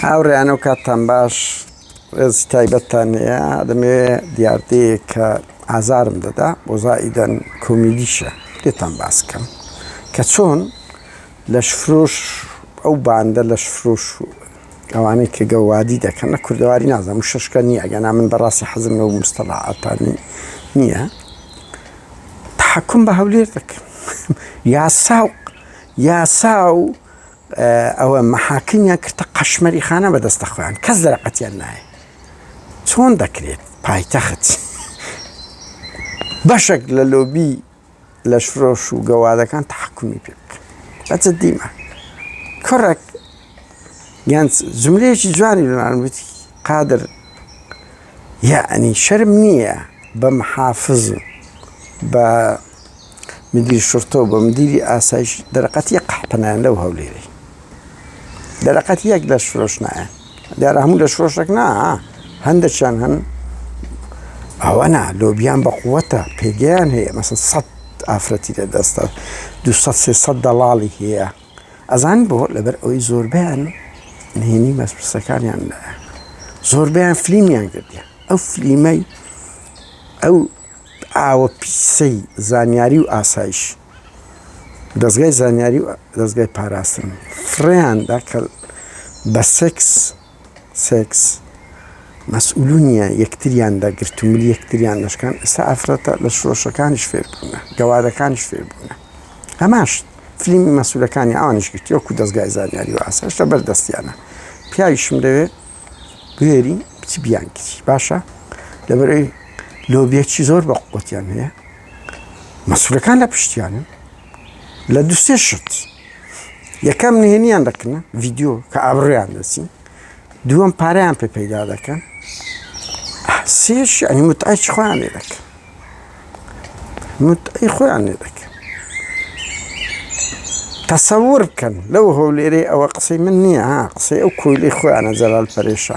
هاوڕێیان و کاتتان باش ڕێزی تایبەتتان هەیە دەمێ دیاردەیە کە ئازارم دەدا بۆ زائیدەن کۆمیدیشە لێتان باس بکەم کە چۆن لەش فرۆش ئەو باندە لەش فرۆش و ئەوانەی کە گەوادی دەکەن لە کوردەواری نازم و شەشکە نییە گەنا من بەڕاستی حەزم لەو مستەڵعاتانی نییە تحکم بە هەولێر دەکەم یاسا و یاسا و ئەوە مەحاکمیان کردتە قەشمەری خانە بە دەستە خۆیان کەس دەرەقەتیان نایە چۆن دەکرێت پایتەخت بەشێک لە لۆبی لەش فرۆش و گەوادەکان تحکمی پێ بکەن بەچە دیمە کوڕێک گەنج جملەیەکی جوانی بمان وتی قادر یعنی شەرم نییە بە محافز بە مدیری شرتە و بە مدیری ئاسایش دەرەقەت یەک قەحپە نایەن لەو هەولێرەی دەرەقەت یەک لە شرۆش نایەن دیارە هەموو لە شرۆشێک نا هەندێکیان هەن ئەوە نا لۆبیان بە قووەتە پێگەیان هەیە مەسن سە ئافرەتی لە دەستە دو سە دەڵاڵی هەیە ئەزان بۆ لەبەر ئەوەی زۆربیان نهێنی مەسپسەکانیان لایە زۆربیان فلیمیان کردیان ئەو فلیمەی ئەو ئاوە پیسەی زانیاری و ئاسایش دەستگای زانیاری و دەستگای پاراستن فڕیان دا کە بە سێکس سێکس مەسئولونیە یەکتریان دەگرت و ملی یەکتریان دەشکان ئێستا ئافرەتە لە شۆشەکانیش فێربوونە گەوادەکانیش فێربوونە هەماش فلیمی مەسولەکانی ئەوانش گرتی وەکو دەستگای زانیاری و ئاساش لە بەردەستیانە پیاویشم دەوێت بێری بچ بیانکری باشە لەبەرەوەی لۆبیەکی زۆر بە قوتیان هەیە مەسولەکان لە پشتیانن لە دوسێ شت یەکەم نهێنیان دەکنە ڤیددیو کە ئابڕیان دەچین دووەم پاریان پێ پەیدا دەکەن سێش ئەنی متعچ خۆیان لێ دەکەن متعی خۆیان لێ دەکەن تەسەور بکەن لەو هەولێرەی ئەوە قسەی من نییە قسەی ئەو کۆیلی خۆیانە جەلال پەرێشە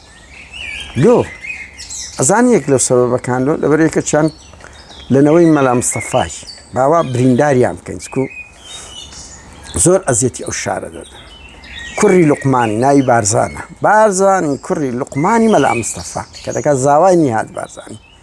لۆ ئەزان یەک لەو سەبەبەکان لۆ لەبەر یەکە چەند لەنەوەی مەلا مستەفاش باوا برینداریان بکەین چکو زۆر ئەزیەتی ئەو شارە دەدەن کوڕی لقمانی ناوی بارزانە بارزانی کوڕی لقمانی مەلا مستەفا کە دەکات زاوای نیهات بارزانانی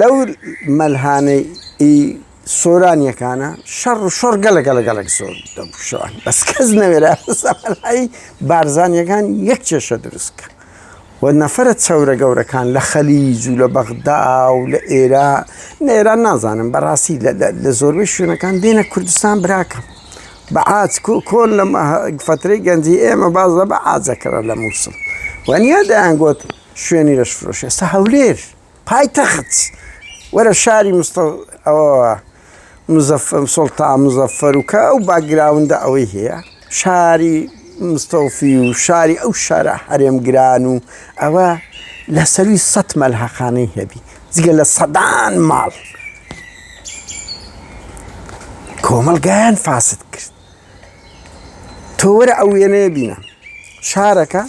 لەو مەلهانەی ئی سۆرانیەکانە شەڕ و شۆڕ گەلە گەلە گەلەک زۆر دەبوشان بەس کەس نەوێرا سەرەی بارزانیەکان یەک کێشە دروستکە و نەفرە چەورە گەورەکان لە خەلیج و لە بەغدا و لە ئێرا نێران نازانم بەڕاستی لە زۆربەی شوێنەکان دێنە کوردستان براکەم بە ئاچ کۆن لە فترەی گەنجی ئێمە باز لە بە ئاجەکەەوە لە مووسم وەنیە دەیانگوت شوێنی لەش فرۆش ئێستا هەولێر پایتەخت وەرە شاری مستە ئەوەوە مزەفم سڵتا مزەفەر و کە ئەو باگراوندا ئەوەی هەیە شاری مستەوفی و شاری ئەو شارە هەرێمگران و ئەوە لە سەروی سەد مەلحەقانەی هەبی جگە لە سەدان ماڵ کۆمەلگایان فاسد کرد تۆ وەرە ئەو وێنەیە بینە شارەکە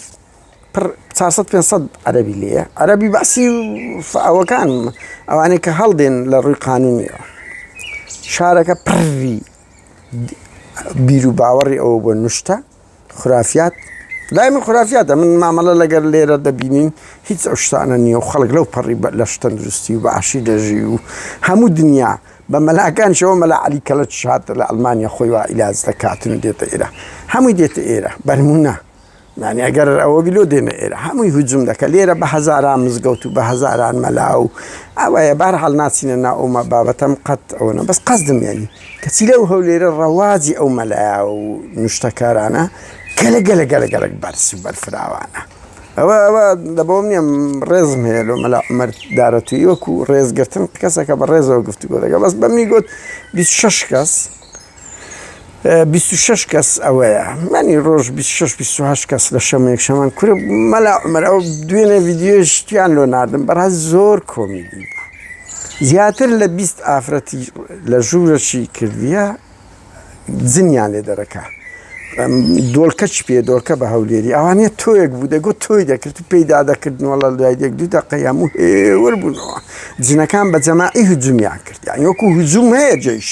پڕ چار سەد پێنج سەد عەرەبی لێیە عەرەبی بەعسی و ئەوەکان ئەوانەی کە هەڵدێن لە ڕووی قانونیەوە شارەکە پڕی بیر و باوەڕی ئەوە بۆ نوشتە خرافات لای من خرافاتە من مامەڵە لەگەر لێرە دەبینین هیچ ئەو شتانە نییە و خەڵک لەو پەڕی لە شتەندروستی و باشی دەژی و هەموو دنیا بە مەلاکان شەوە مەلا علی کەلە شات لە ئەلمانیا خۆی وا ئیلاز دەکاتن دێتە ئێرە هەمووی دێتە ئێرە بەرمونە یانی ئەگەر ئەوە بیلۆ دێنە ئێرە هەمووی هجوم دەکە لێرە بە هەزاران مزگەوت و بە هەزاران مەلا و ئەوەیە بار هەڵ ناچینە نا ئەومە بابەتەم قەت ئەوەنە بەس قەزدم یانی کەچی لەو هەو لێرە ڕەواجی ئەو مەلایا و نوشتەکارانە گەلە گەلە گەلە گەلک بەرز و بەرفراوانە ئەوە ئەوە دەبەوەم نیە ڕێزم هەیە لۆ مەلا عمەر دارەتویوەک و ڕێزگرتن کەسەکە بە ڕێزەوە گفتوگۆ دەگە بەس بەمنی گوت بیست شش کەس بیست و شەش کەس ئەوەیە منی ڕۆژ بیست و شەش بیست و هەشت کەس لە شەمە یەک شەمان کورە مەلا عومەر ئەو دوێنێ ڤیدیۆشتیان لۆ ناردم بەڕاست زۆر کۆمیدی بوو زیاتر لە بیست ئافرەتی لە ژوورەشی کردیە زنیان لێ دەرەکە دۆلکە چ پێ دۆلکە بە هەولێری ئەوانە تۆیەک بوو دەگوت تۆی دەکرد و پێیدا دەکردنەوە لە دوای دێک دوو دەقی هەموو هێور بوونەوە جنەکان بە جەماعی هجومیان کرد یان وەکو هجووم هەیە جێیش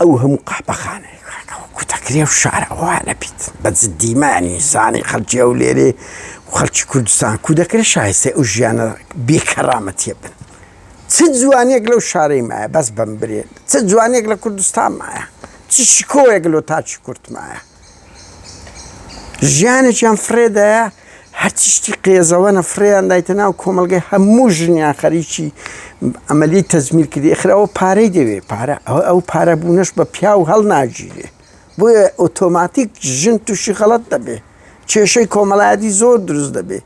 ئەو هەموو قاپەخانە کوتەکرێ و شارە ئەوە نەبیت بە جددیمانی زانانی خەڵکی ئەو لێرێ خەڵکی کوردستان کو دەکرێت شایستێ ئەو ژیانە بێکەڕامەتیە بن چ جوانێک لەو شارەی مایە بەس بم برێت چ جوانێک لە کوردستان مایە چ شکۆیەک لۆ تاچی کورتمایە ژیانێکیان فرێدایە هەرچی شتی قێزەوەنە فریان دایتە ناو کۆمەلگەی هەموو ژنیان خەریکی ئەمەلی تەزمیرکردی خراوە پارەی دەوێ پارە ئەو ئەو پارە بوونەش بە پیا و هەڵ ناگیرێ بۆیە ئۆتۆماتیک ژن تووشی خەڵەت دەبێ کێشەی کۆمەڵایەتی زۆر دروست دەبێت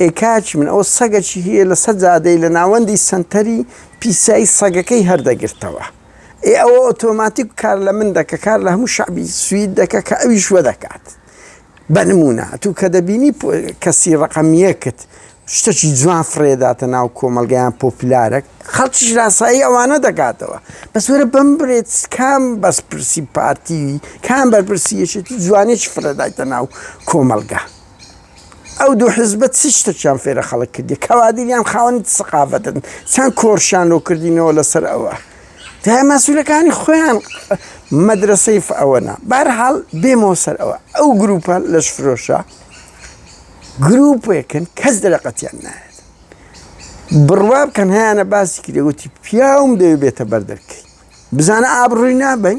ئێ کاکی من ئەوە سەگە چی هەیە لەسەر جادەی لە ناوەندی سەنتەری پیسایی سەگەکەی هەردەگرتەوە ئێ ئەوە ئۆتۆماتیک کار لە من دەکە کار لە هەموو شعبی سوید دەکە کە ئەویش وە دەکات بە نمونە تو کە دەبینی کەسی ڕقەمیەکت شتەکی جوان فرێداتە ناو کۆمەلگەیان پۆپلارە خەڵکیش لاسایی ئەوانە دەکاتەوە بەس وەرە بم برێت کام بەس پرسی پارتیوی کام بەرپرسی یەکێتی جوانێکی فرەدایتە ناو کۆمەلگە. ئەو دوو حزبە چ شتێکیان فێرە خەڵک کردی کەوادر یان خاوەنی سەقافەتن چەند کۆرشیان لۆ کردینەوە لەسەر ئەوە دای مەسولەکانی خۆیان مەدرسەی ئەوەنا بارحاڵ بێمەوە سەر ئەوە ئەو گروپە لەش فرۆشە گروپێکن کەس دەرەقەتیان نایێت بڕوا بکەن هەیەە باسی کرێوتی پیاوم دەوێت بێتە بەردەرکەی بزانە ئابڕووی نابین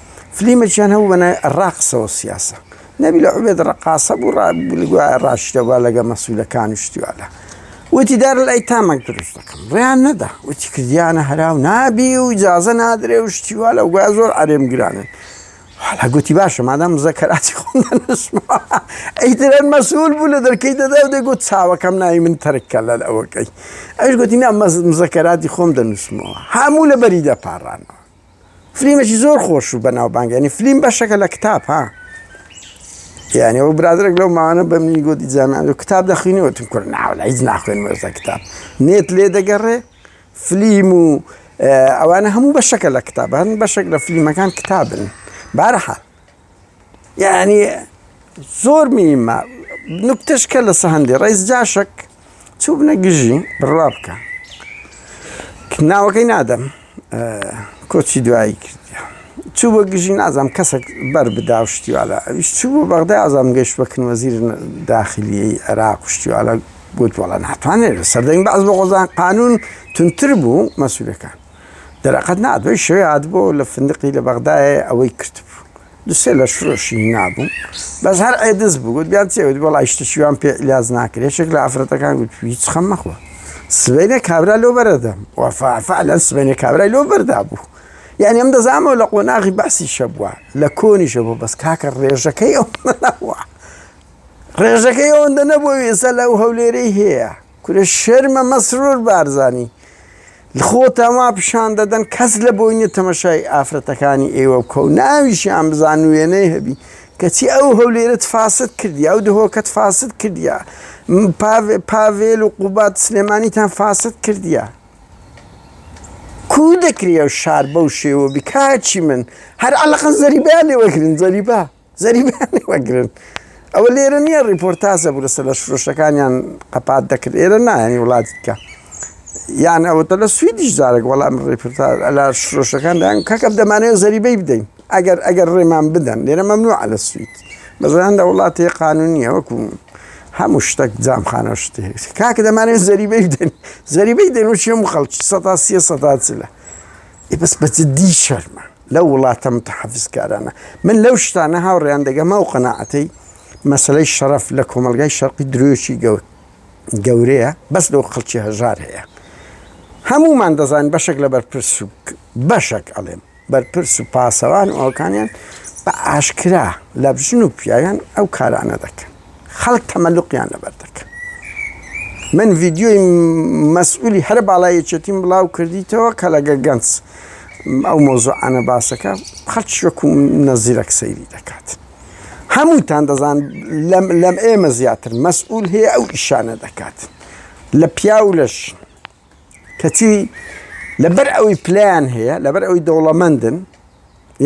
فلیمەکیان هەبوو بەنای ڕاقسەوە سیاسە نەبی لە عوبێت ڕقاسە بوو ڕابلگووە ڕاشتەوە لەگە مەسوولەکان و شتیوادا وتی دار لای تامەک دروست دەکەم ڕیان نەدا وتی کردیانە هەراو نابی و جازە نادرێ و شتیوا لە گویا زۆر ئەرێم گرانن حالا گوتی باشە مادام مزەکەراتی خۆم ئەیترەن مەسول بوو لە دەرکەی دەدا و دەگوت چاوەکەم ناوی من تەرککە لە ئەوەکەی ئەوش گوتی نا مزەکەراتی خۆم دەنووسمەوە هەموو لە بەری دەپارانەوە فلیمێکی زۆر خۆش و بەناوبانگە ینی فلیم بەشەکە لە کتاب ها یعنی ئەو برادرێک لەو ماوانە بە منی گوتی جامیان و کتاب دەخوینەوەتم کرد ناوە هیچ ناخوێن مەرزە کتاب نێت لێ دەگەڕێ فلیم و ئەوانە هەموو بەشەکە لە کتابان بەشێک لە فلیمەکان کتابن بارەحە یعنی زۆر میمە نکتشکە لە سەهندی ڕیز جاشک چوو بنە گژی بڕوا بکە ناوەکەی نادەم کۆچی دوایی کردە چوو بە گژی نازام کەسێک بەر بدا و شتیوالا ئەویش چوو بۆ بەغدا ئازام گەشت بەکن وەزیر داخلیی عێراق و شتیوالا گوت وڵە ناتوانێت سەردەنگ بەعز بە غۆزان قانون تونتر بوو مەسوولەکان دەرەقەت نا دوای شەوێ هاتبوو لە فندقی لە بەغدایە ئەوەی کردبوو دوسێ لە شرۆشی نابوو بەس هەر ئێدز بگوت بیان چێوت بۆ لای شتشیوان پێ لاز ناکرێت شێک لە ئافرەتەکان گوت هیچ خەم مەخۆ سبەینێ کابرا لۆ بەرەدەم وەفاعفعلەن سبەینێ کابرای لۆ بەردا بوو یعنی ئەم دەزانەوە لە قۆناغی بەسی شەبووە لە کۆنی شەبوو بەس کاکە ڕێژەکەی ئەو نەوە ڕێژەکەی ئەوەندە نەبوو ئێستا لەو هەولێرەی هەیە کورە شەرمە مەسرور بارزانانی خۆتان وا پیشان دەدەن کەس لە بۆی نیە تەمەشای ئافرەتەکانی ئێوە بکە و ناویشیان بزان و وێنەی هەبی کەچی ئەو هەولێرەت فاسد کردیە ئەو دهۆکەت فاسد کردیە پاڤێ پاڤێل و قوباد سلێمانیتان فاسد کردیە کوو دەکرێ ئەو شار بەو شێوە بی کاچی من هەر عەلەقەن زەریبەیان لێ وەرگرن زەریبە. زەریبیان وەگرن ئەوە لێرە نییە ڕیپۆرتازە بوو لەسەر لە شرۆشەکانیان قەپات دەکرد ئێرە نایانی وڵاتی بکە یان ئەوتە لە سویدیش جارێک وەڵام ڕێپرتا لە شرۆشەکان دایان کەکەم دەمانەیە زەریبەی بدەین ئەگەر ئەگەر ڕێمان بدەن لێرە مەمنوع لە سوید بەزان لە وڵاتی قانونیە وەکو هەموو شتێک جامخانە شتێ کاکە دەمانێت زەریبەی بدەین زەریبەی دەن و چێم خەڵکی سە سیە سەدا چلە ئێ بەس بە جدی شەرمە لەو وڵاتە متحفزکارانە من لەو شتانە هاوڕێیان دەگەمە و قەنەعەتەی مەسلەی شەرف لە کۆمەلگای شەرقی درۆشی گەوت گەورەیە بەس لەو خەڵکی هەژار هەیە هەمومان دەزانین بەشێک لە بەرپرس و بەشێک ئەڵێم بەرپرس و پاسەوان ئەوکانیان بە ئاشکرا لە بژن و پیاویان ئەو کارانە دەکەن خەڵک تەمەلوقیان لەبەر دەکەن من ڤیددیۆی مەسئولی هەر باڵای یەکێتیم بڵاو کردیتەوە کە لەگە گەنج ئەو مۆزۆعانە باسەکە خەڵکی وەکو نەزیرەک سەیری دەکات هەمووتان دەزان لەم ئێمە زیاتر مەسئول هەیە ئەو ئیشانە دەکات لە پیاو لەش کەچی لەبەر ئەوی پلیان هەیە لەبەر ئەوی دەوڵەمەندن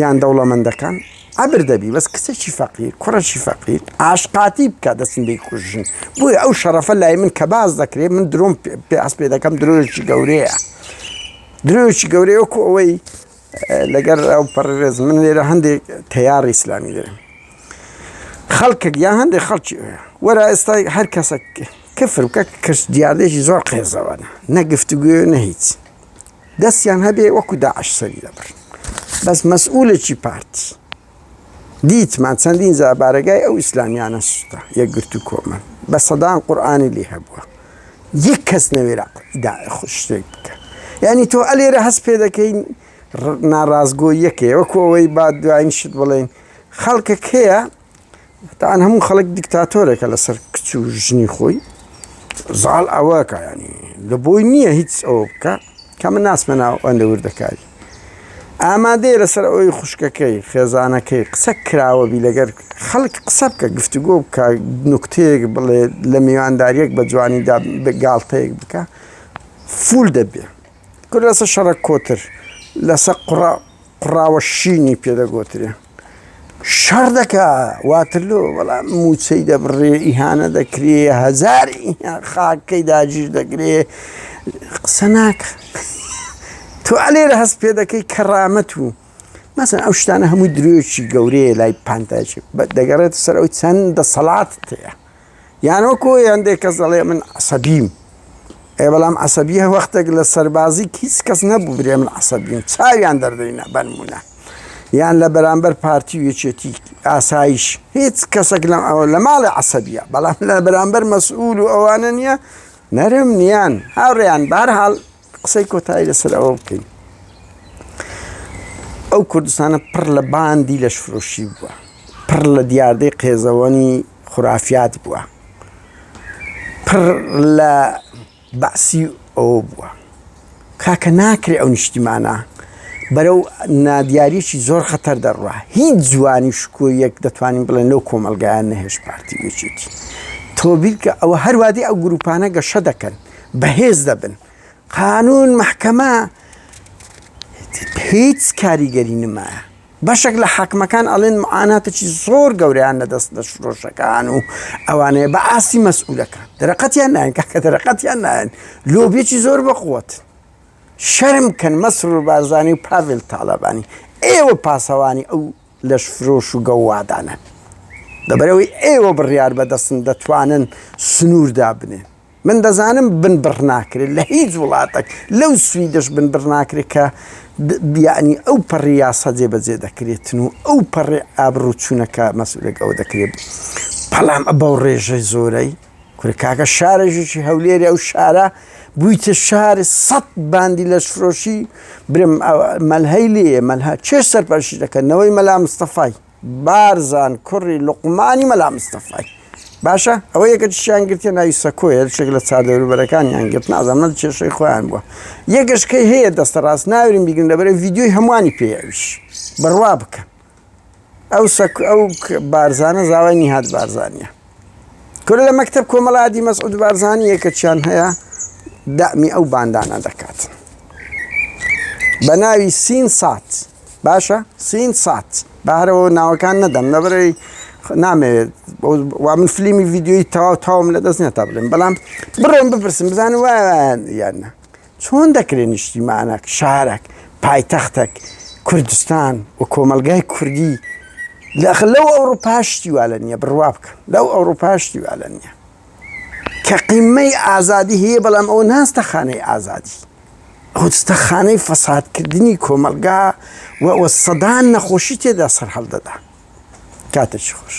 یان دەوڵەمەندەکان عبر دەبی بەس کچێکی فەقیر کوڕێکی فەقیر ئاشقاتی بکە دەستن بێ کوژن بۆی ئەو شەڕەفە لای من کە باز دەکرێت من درۆم پێ ئەس پێ دەکەم درۆیەکی گەورەیە درۆیەکی گەورەیەکو ئەوەی لەگەر ئەو پەڕرێز من لێرە هەندێک تەیار ئیسلامی دەێن خەڵکک یا هەندێک خەڵکی وەرا ئێستای هەر کەسە کفر بکە کەس دیاردێکی زۆر قێزەوەە نەگفتگوێ نە هیچ دەستیان هەبێ وەکو داعش سەری دەبڕ بەس مەسئولێکی پارتی دیتمان چەندین جار بارەگای ئەو ئیسلامیانە سوتە یەکگرت و کۆمەن بە سەدان قورآانی لێ هەبووە یەک کەس نەوێرا شتێک بکە یعنی تۆ ئەلێرە هەست پێ دەکەین ناڕاستگۆ یەکەیە وەکۆەوەی با دوایین شت بڵێن خەڵکە کێە تاان هەموو خەڵک دیکتاتۆرێکە لەسەر کچ و ژنی خۆی زاڵ ئەوەکە ینی لە بۆی نییە هیچ ئەوە بکە کە من ناسمە ناو ئەندە وردەکاری ئامادەیە لەسەر ئەوەی خوشکەکەی خێزانەکەی قسە کراوەبی لەگەر خەڵک قسە بکە گفتوگۆ بکە نوکتەیەک بڵێ لە میوانداریەک بە جوانیدا گاڵتەیەک بکە فول دەبێ کورد لەسە شەڕە کۆتر لەسە قڕا قڕاوە شینی پێدەگۆترێ شەڕ دەکا واترلۆ بەڵام موچەی دەبڕێ ئیهانە دەکرێ هەزار خاکەی داگیر دەگرێ قسە ناکە تو لێرە هەست پێ دەکەی کەڕامەت و مەسن ئەو شتانە هەموو درێژی گەورەیە لای پانتاچێت دەگەڕێت سەر ئەو چەند دەسەڵات تەیە یان وەکو هەندێک کەس دەڵێ من عسەبیم ئێ بەڵام عسەبیە وەختێک لە سەربازی هیچ کەس نەبوو برێ من عسەبیم چاویان دەردەینە بەنمونە یان لە بەرامبەر پارتی و یەکێتی ئاسایش هیچ کەسێک لەم ئەوە لە ماڵی عسەبیە بەڵام لە بەرامبەر مەسئول و ئەوانە نییە نەرم نیان هاوڕێیان بارحاڵ قسەی کۆتایی لەسەر ئەوە بکەین ئەو کوردستانە پڕ لە باندی لەشفرۆشی بووە پڕ لە دیاردەی قێزەوەنی خورافات بووە پڕ لە بەعسی ئەوە بووە کاکە ناکرێ ئەو نیشتیمانە بەرەو نادیارێکی زۆر خەتەر دەڕوا هیچ جوانی شکۆ یەک دەتوانین بڵێن لەو کۆمەلگایان نەهێش پارتی بچێتی تۆبیل کە ئەوە هەروادی ئەو گروپانە گەشە دەکەن بەهێز دەبن قانون محکەمە هیچ کاریگەری نمایە بەشێک لە حاکمەکان ئەڵێن معاناتێکی زۆر گەوریان نەدەست لە شرۆشەکان و ئەوانەیە بە ئاستی مەسئولەکان دەرەقەتیان نایەن کاکە دەرەقەتیان نایەن لۆبیێکی زۆر بەخوت شەرم کەن مەسر و بارزانانی و پاڤل تاالبانی ئێوە پاسەوانی ئەو لەش فرۆش و گەوادانە دەبەرەوەی ئێوە بڕیار بەدەستن دەتوانن سنووردا بنێن من دەزانم بنبڕ ناکرێت لە هیچ وڵاتەک لەو سویدەش بنبڕ ناکرێت کە یعنی ئەو پەڕی یاسا جێبەجێ دەکرێتن و ئەو پەڕێ ئابڕوو چوونەکە مەسولێک ئەوە دەکرێت بەڵام بەو ڕێژەی زۆرەی کورکاکە شارێژیی هەولێری ئەو شارە بوویتە شاری سەد باندی لەشفرۆشی برم مەلهەی لێ مەلها چێ سەرپەرشی دەکەن نەوەی مەلا مستەفای بارزان کوڕی لوقمانی مەلا مستەفای. باشە ئەوە یەکەتشیان گرتە ناوی سەکۆیە شێک لە چادەوروبەرەکانیان گرت نازانمە کێشەی خۆیان بووە یەگەشکەی هەیە دەستە ڕاست ناورین بیگرن لەبەرە یددیوی هەمووانی پێویش بڕوا بکەن ئەو سەک ئەو بارزانە زاوای نیهات بارزانە کورە لە مەکتەب کۆمەڵادی مەسعود بارزانی یەکەچیان هەیە دامی ئەو باندانە دەکات بە ناوی سین سات باشە سین سات بەهرەوە ناوەکان نەدەم نەبرەی نامەوێت وا من فلیمی یددیوی تەواو تاوم لە دەست نێتا بڵێن بەڵام بڕۆم بپرسم بزانم وایان یانە چۆن دەکرێت نیشتیمانەک، شارەک، پایتەختەک، کوردستان و کۆمەڵگای کوردی لە ئەخ لەو ئەوڕوپا شتی وا لە نییە بڕوا بکە لەو ئەوڕوپا شتی وا لە نییە کە قیمەی ئازادی هەیە بەڵام ئەوە ناستە خانەی ئازادی خودستەخانەی فەسادکردنی کۆمەلگا و سەدان نەخۆشی تێدا سەر هەڵدەدا کاتێکی خۆش.